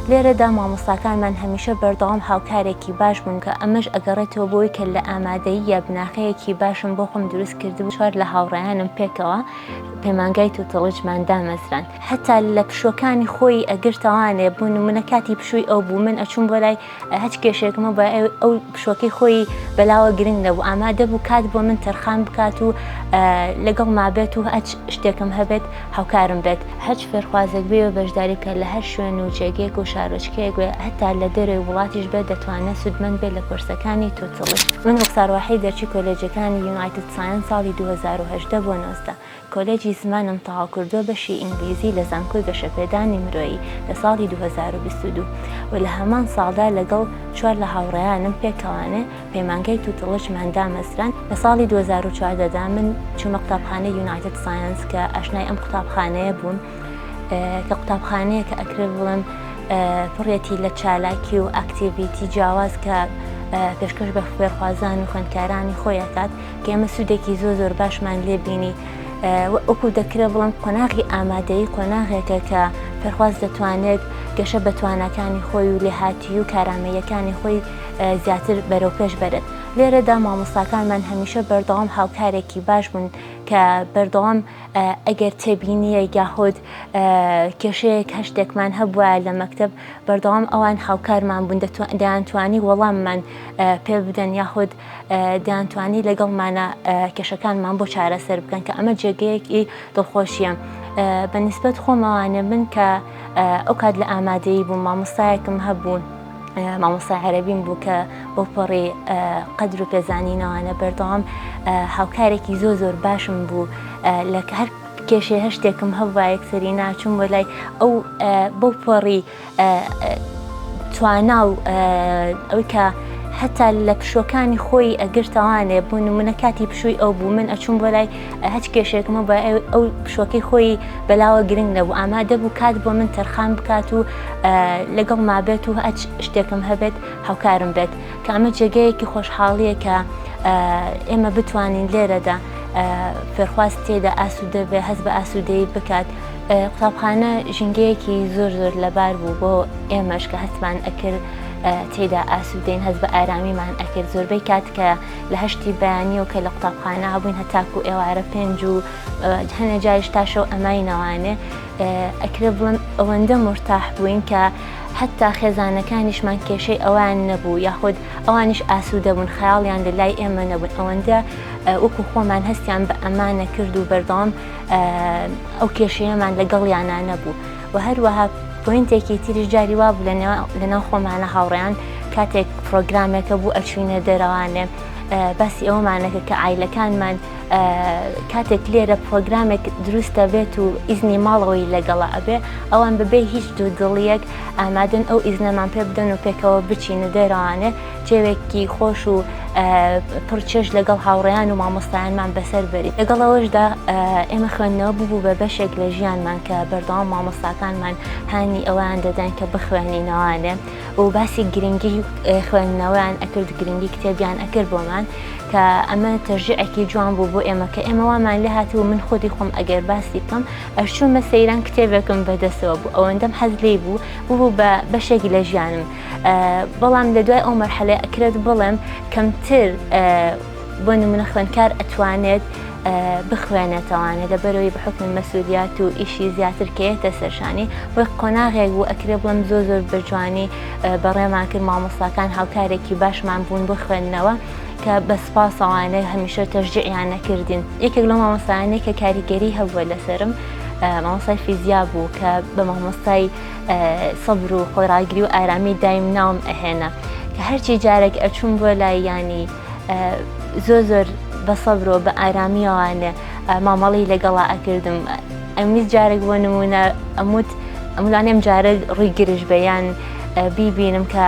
لێرەدا مامۆستاکانمان هەمیشە بەردەوام هاوکارێکی باش بوون کە ئەمەش ئەگەڕێتەوە بۆی کە لە ئامادەییە بناخەیەکی باشم بۆ خۆم دروست کردبوو چوار لە هاوڕێیانم پێکەوە پەیمانگای توتڵجمان دامەزراند هەتا لە پشوەکانی خۆی ئەگرتەوانێ بوون منە کاتی پشووی ئەو بوو من ئەچوون بۆ لای هەچ کێشێکمە بە ئەو پشوەکەی خۆی بەلاوە گرنگ نەبوو ئامادە بوو کات بۆ من تەرخان بکات و لەگەڵ مابێت و ئەچ شتێکم هەبێت هاوکارم بێت هەرچ فێرخوازێک بێ و بەشداری بکە لە هەر شوێن و جێگەیەک و شارۆچکەیەک بێ هەتا لە دەرەوەی وڵاتیش بێت دەتوانێت سوودمەند بێت لە کۆرسەکانی توتڵی. من ڕوخسار واحید دەرچووی کۆلێجەکانی یونایتد سایەنس ساڵی دوو هەزار و هەژدە بۆ نۆزدە کۆلێجی زمانم تەواو کردووە بەشی ئینگلیزی لە زانکۆی گەشەپێدانی مرۆیی لە ساڵی دوو هەزار و بیست و دوو و لە هەمان ساڵدا لەگەڵ چوار لە هاوڕێیانم پێکەوانێ پەیمانگای توتڵشمان دامەزراند، لە ساڵی دوو هەزار و چواردە دا من چوومە قوتابخانەی یونایتد سایەنس کە ئاشنای ئەم قوتابخانەیە بووم کە قوتابخانەیە کە ئەکرێت بڵێم پڕێتی لە چالاکی و ئاکتیڤیتی جیاواز کە پێشکەش بە خوێرخوازان و خوێندکارانی خۆی ئەکات کە ئێمە سوودێکی زۆ زۆر باشمان لێ بینی وەکو دەکرێت بڵم قۆناغی ئامادەی قۆناغێکە کە پێخواز دەتوانێت گەشە بە توانەکانی خۆی و لێهاتی و کارامەیەکانی خۆی زیاتر بەرەو پێش بەرن لێرەدا مامۆستاکانمان هەمیشە بەردەوام هاوکارێکی باش بوون کە بەردەوام ئەگەر تێبینیە یاهود کێشەیەک هەشتێکمان هەبووە لە مەکتب بەردەوام ئەوان هاوکارمان بوون دەیانتوانی وەڵاممان پێ بدەن یاهود دەیانتوانی لەگەڵمانە کێشەکانمان بۆ چارەسەر بکەن کە ئەمە جێگەیەکی دڵخۆشیە. بەنیسبەت خۆمەوانێ من کە ئەو کات لە ئامادەی بووم مامۆستایەکم هەبوون مامۆستا عەرەبیم بوو کە بۆ پەڕی قەدر و پێزانینەوانە بەردەوام هاوکارێکی زۆ زۆر باشم بوو لە هەر کێشێ هەشتێکم هەبوو یەکسەری ناچوم بۆ لای ئەو بەو پەڕی توانا و ئەوی کە هەتا لە پشوەکانی خۆی ئەگرتەوانێ بوون منە کاتی پشووی ئەو بوو من ئەچوم بۆ لای هەچ کێشێکم و بە ئەو پشۆکەی خۆی بەلاوە گرنگ نەبوو ئامادە بوو کات بۆ من تەرخان بکات و لەگەڵ مابێت و هەچ شتێکم هەبێت هاوکارم بێت کە ئەمە جێگەیەکی خۆشحاڵیە کە ئێمە بتوانین لێرەدا فێرخواست تێدا ئاسوودە بێ هەست بە ئاسوودەی بکات قوتابخانە ژینگەیەکی زۆر زۆر لەبار بوو بۆ ئێمەش کە هەستمان ئەکرد تێدا ئاسوودەین هەست بە ئارامیمان ئەکرد زۆربەی کات کە لە هەشتی بەیانیەوە کە لە قوتابخانە هەبووین هەتاکو ئێوارە پێنج و هەنێ جاریش تاشەو ئەمای نەوانێ ئەکرێ بڵم ئەوەندە مرتاح بووین کە حتا خێزانەکانیشمان کێشەی ئەوان نەبوو یاخود ئەوانیش ئاسوودەبوون خەیاڵیان لە لای ئێمە نەبوون ئەوەندە وەکو خۆمان هەستیان بە ئەمانە کرد و بەردەوام ئەو کێشەیەمان لەگەڵیانە نەبوو وە هەروەها پۆینتێکی تریش جاری وا بوو لە ناو خۆمانە هاوڕێیان کاتێک پرۆگرامەکە بوو ئەچوینە دەرەوانێ باسی ئەومانەکە کە ئایلەکانمان کاتێک لێرە پرۆگرامێک دروستە بێت و ئیزنی ماڵەوەی لەگەڵا ئەبێ ئەوان ببێ هیچ دوو دڵیەک ئامادەن ئەو ئیزنەمان پێ بدەن و پێکەوە بچینە دەرەوانێ تێوێکی خۆش و پڕ چێژ لەگەڵ هاوڕێیان و مامۆستایانمان بەسەر بەری لەگەڵ ئەوەشدا ئێمە خوێندنەوە ببوو بە بەشێک لە ژیانمان کە بەردەوام مامۆستاکانمان هانی ئەویان دەدەن کە بخوێنینەوانێ و باسی گرنگی خوێندنەوەیان ئەکرد گرنگی کتێبیان ئەکرد بۆمان کە ئەمە تەژعێکی جوان بوو بۆ ئێمە کە ئێمە وامان لێ هاتی و من خودی خۆم ئەگەر باسی بکەم ئەشچوومە سەیران کتێبێکم بەدەسەوە بوو ئەوەندەم حەز لی بوو ببوو بە بەشێک لە ژیانم بەڵام لە دوای ئەو مەرحەلەی ئەکرێت بڵێم کەمتر بۆ نمونە خوێنکار ئەتوانێت بخوێنێتەوانە لە بەرەوەی بەحکمی مەسوولیات و ئیشی زیاتر کەێتە سەرشانی وەک قۆناغێک بوو ئەکرێ بڵم زۆ زۆر بەجوانی بەڕێمان کرد مامۆساکان هاوکارێکی باشمان بوون بۆ خوێندنەوە کە بە سپاسەوانە هەمیشە تەژجیعیان نەکردین یەکێک لە مامۆسایانێک کە کاریگەری هەبووە لەسرم مامۆسای فیزیا بوو کە بە مامۆستای سەبر و خۆڕاگری و ئارامی دایم ناوم ئەهێنا کە هەرچی جارێک ئەچوون بۆ لایانی زۆر زۆر بە سەبرۆ بە ئارامیەوانە مامەڵی لەگەڵا ئەکردم ئەمیز جارێک بۆ نمونە ئەموت ئەملانێم جارە ڕووی گرژ بەیان بیبینم کە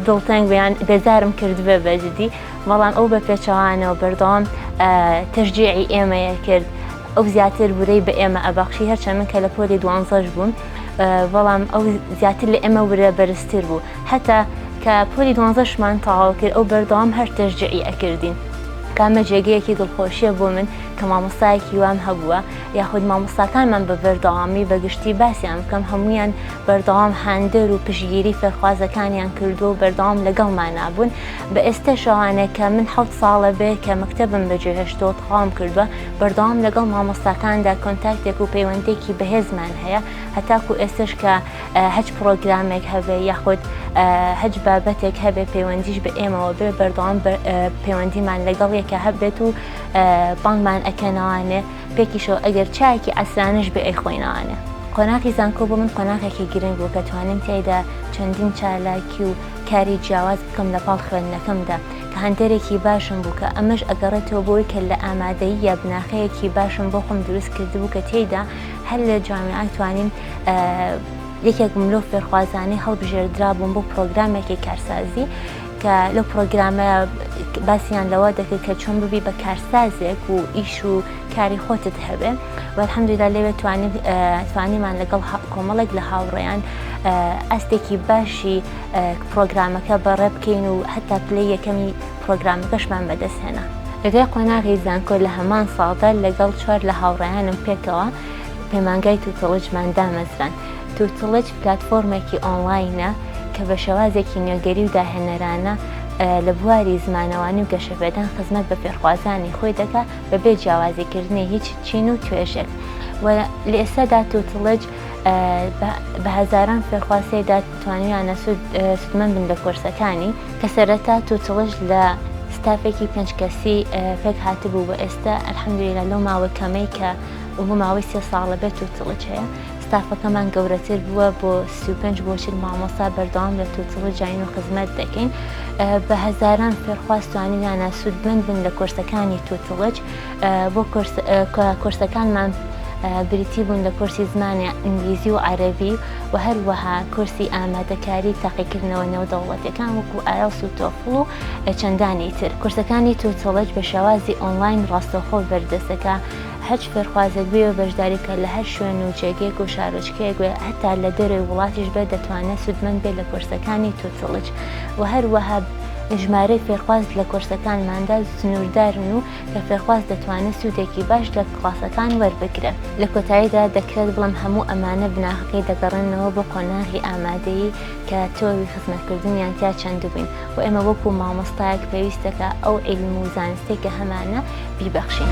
دڵتەنگ بەیان بێزارم کردبێ بەجددی بەڵام ئەو بە پێچەوانەوە بەردەوام تەژجیعی ئێمەیە کرد ئەو زیاتر ورەی بە ئێمە ئەبەخشی هەرچەند من کە لە پۆلی دوانزەش بووم بەڵام ئەو زیاتر لە ئێمە ورە بەرزتر بوو هەتا کە پۆلی دوانزەشمان تەواو کرد ئەو بەردەوام هەر تەشجیعی ئەکردین. کامە جێگەیەکی دڵخۆشییە بۆ من کە مامۆستایەکی وام هەبووە یاخود مامۆستاکانمان بە بەردەوامی بە گشتی باسیان بکەم هەموویان بەردەوام هاندەر و پشتگیری فێرخوازەکانیان کردووە و بەردەوام لەگەڵمانا بوون بە ئێستەش ئەوانە کە من حەوت ساڵە بێ کە مەکتەبم بەجێهێشتووە تەواوم کردووە بەردەوام لەگەڵ مامۆستاکاندا کۆنتاکتێک و پەیوەندێکی بەهێزمان هەیە هەتاکو ئێستش کە هەچ پرۆگرامێک هەبێ یاخود هەج بابەتێک هەبێ پەیوەندیش بە ئێمەوە بێ بەردەوام پەیوەندیمان لەگەڵ یەکە هەبێت و بانگمان ئەکەنەوانێ پێکیشەوە ئەگەر چایەکی ئەسرانش بێ ئەی خۆینەوانێ. قۆناغی زانکۆ بۆ من قۆناغێکی گرنگ بوو کە توانیم تێدا چەندین چالاکی و کاری جیاواز بکەم لە پاڵ خوێندنەکەمدا هەنتەرێکی باشم بوو کە ئەمەش ئەگەڕێتەوە بۆی کە لە ئامادەییە بناخەیەکی باشم بۆ خۆم دروست کردبوو کە تێیدا هەر لە جامیان توانیم یەکێک ملۆ فێرخوازانی هەڵبژێردرا بووم بۆ پرۆگرامێکی کارسازی کە لەو پرۆگرامە باسییان لەوە دەکرد کە چۆن ببی بە کارسازێک و ئیش و کاری خۆتت هەبێ وەحمدودا لەوێ توانیمانە لەگەڵ کۆمەڵێک لە هاوڕێیان ئەستێکی باشی پڕۆگرامەکە بەڕێ بکەین و هەتا پلەی یەکەمی پڕۆگرامەکەشمان بەدەستهێنا. لە دوای قۆناغی زانکۆ لە هەمان ساڵدا لەگەڵ چوار لە هاوڕێیانم پێکەوە پەیمانگای توتڵجمان دامەزراند. توتڵج پلاتفۆرمێکی ئۆنڵاینە کە بە شێوازێکی نوێگەری و داهێنەرانە لە بواری زمانەوانی و گەشەپێدان خزمەت بە فێرخوازانی خۆی دەکات بەبێ جیاوازیکردنی هیچ چین و توێژێک و لە ئێستادا توتڵج بە هەزاران فێرخواز تێدا توانیویانە سودمەند بن لە کۆرسەکانی کە سەرەتا تووتڵش لە ستافێکی پێنج کەسی پێک هاتبوو بە ئێستا ئەلحەمدویلە لەو ماوە کەمەی کە بۆ ماوەی سێ ساڵە بێت و تڵچ هەیە ستافەکەمان گەورەتر بووە بۆ پێنج بۆچل مامۆسا بەردەوام لە تووتڵ جین و خزمەت دەکەین بە هەزاران فێرخواستوانیانە سوودمەند بن لە کۆرسەکانی تووتڵج بۆ کۆرسەکانمان بریتی بوون لە کۆرسی زمانی ئینگلیزی و عەرەبی و هەروەها کۆرسی ئامادەکاری تاقیکردنەوە نێودەوڵەتەکان وەکو ئایەڵس و تۆفڵ و چەندانی تر کورسەکانی توتۆڵج بە شێوازی ئۆنلاین ڕاستەوخۆ بەردەستەکە هەچ فێرخوازێک بێ و بەشداریکە لە هەر شوێن و جێگەیەک و شارۆچکەیەک وێ هەتا لە دەرەوەی وڵاتیش بێ دەتوانێت سوودمەند بێ لە کۆرسەکانی توتڵج و هەروەها ژمارەی فێرخواز لە کۆرسەکانماندا سنووردارن و کە فێرخواز دەتوانێت سوودێکی باش لە کڵاسەکان وەربگرێت. لە کۆتاییدا دەکرێت بڵێم هەموو ئەمانە بناغەکەی دەگەڕێنەوە بۆ قۆناغی ئامادەیی کە تۆوی خزمەتکردنیان تیا چەندبووین و ئێمە وەکوو مامۆستایەک پێویستە کە ئەو عیلم و زانستەی کە هەمانە بیبەخشین.